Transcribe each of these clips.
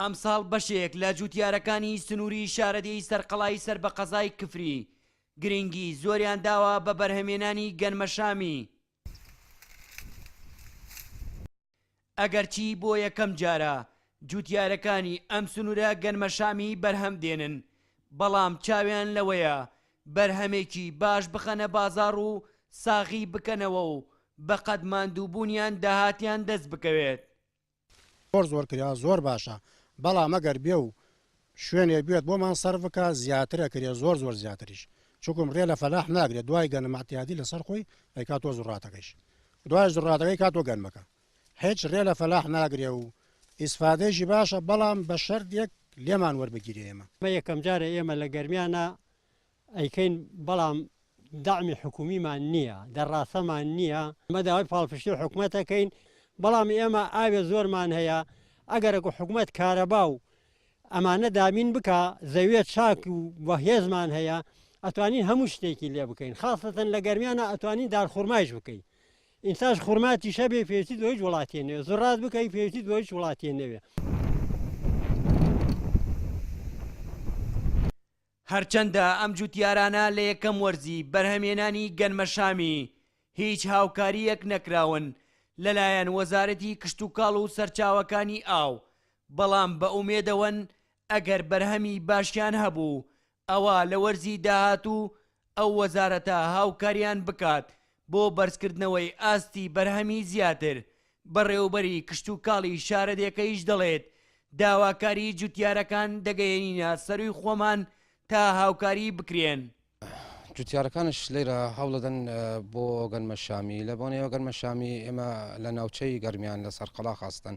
ئەمساڵ بەشێک لە جووتیارەکانی سنووری شارەدێی سەرقەڵای سەر بە قەزای کفری گرنگی زۆریان داوە بە بەرهەمێنانی گەنمەشامی، ئەگەرچی بۆ یەکەم جارە جووتیارەکانی ئەم سنوورە گەنمەشامی بەرهەم دێنن، بەڵام چاویان لەوەیە بەرهەمێکی باش بخەنە بازاڕ و ساغی بکەنەوە و بەقەد ماندووبوونیان داهاتیان دەست بکەوێت. زۆر زۆر کرێ زۆر باشە بەڵام ئەگەر بێ و شوێنێ بێت بۆمان سەرف بکە زیاترە کرێ زۆر زۆر زیاتریش چونکم رێ لە فەلاح ناگرێ دوای گەنم ئەتیادی لەسەر خۆی ئەیکا تۆ زوڕاتەکەیش دوایش زوڕاتەکەی کا تۆ گەنمەکە هیچ رێ لە فەلاح ناگرێ و ئیسفادەیشی باشە بەڵام بە شەرت یەک لێمان وەربگیرێ ئێمە. مە یەکەم جارە ئێمە لە گەرمیانە ئەیکەین بەڵام دەعمی حکومیمان نییە دەرڕاسەمان نییە مە داوای پاڵپشتی حکومەتەکەین بەڵام ئێمە ئاوێ زۆرمان هەیە ئەگەرەک و حکومەت کارەبا و ئەمانە دابین بکە زەوێ چاک و بەهێزمان هەیە ئەتوانین هەموو شتێکی لێ بکەین خاستەن لە گەرمیانە ئەتوانین دارخورمایش بکەین ئینتاش خورماتیش هەبێ پێویستی بە هیچ وڵاتێ نەوێ زڕات بکەی پێویستی بە هیچ وڵاتێ نەوێ هەرچەندە ئەم جوتیارانە لە یەکەم وەرزی بەرهەمێنانی گەنمەشامی هیچ هاوکارییەک نەکراون لەلایەن وەزارەتی کشتوکاڵ و سەرچاوەکانی ئاو بەڵام بە ئومێدەوەن ئەگەر بەرهەمی باشیان هەبوو ئەوا لە وەرزی داهاتوو ئەو وەزارەتە هاوکاریان بکات بۆ بەرزکردنەوەی ئاستی بەرهەمی زیاتر، بەڕێوبەری کشتوکاڵی شارەدێکەیش دەڵێت، داواکاری جوتیارەکان دەگەیەنینە سەرووی خۆمان تا هاوکاری بکرێن. جوتیارەکانش لێرە هەوڵدەدەن بۆ گەنمە شامی، لەبۆنەیەوە گەنمە شامی ئێمە لە ناوچەی گەرمیان لە سەرقەڵاخ ئەستەن،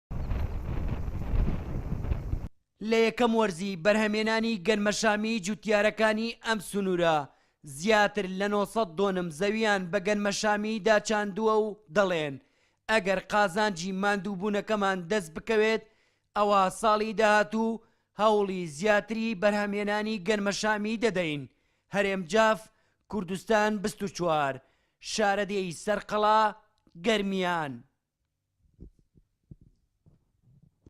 لە یەکەم وەرزی بەرهەمێنانی گەنمەشامی جوتیارەکانی ئەم سنوورە زیاتر لە نۆ سەد دۆنم زەوییان بە گەنمەشامی داچاندووە و دەڵێن، ئەگەر قازانجی ماندووبوونەکەمان دەست بکەوێت، ئەوا ساڵی داهاتوو هەوڵی زیاتری بەرهەمهێنانی گەنمەشامی دەدەین، هەرێم جاف، کوردستان بیست و چوار، شارەدێی سەرقەڵا گەرمیان.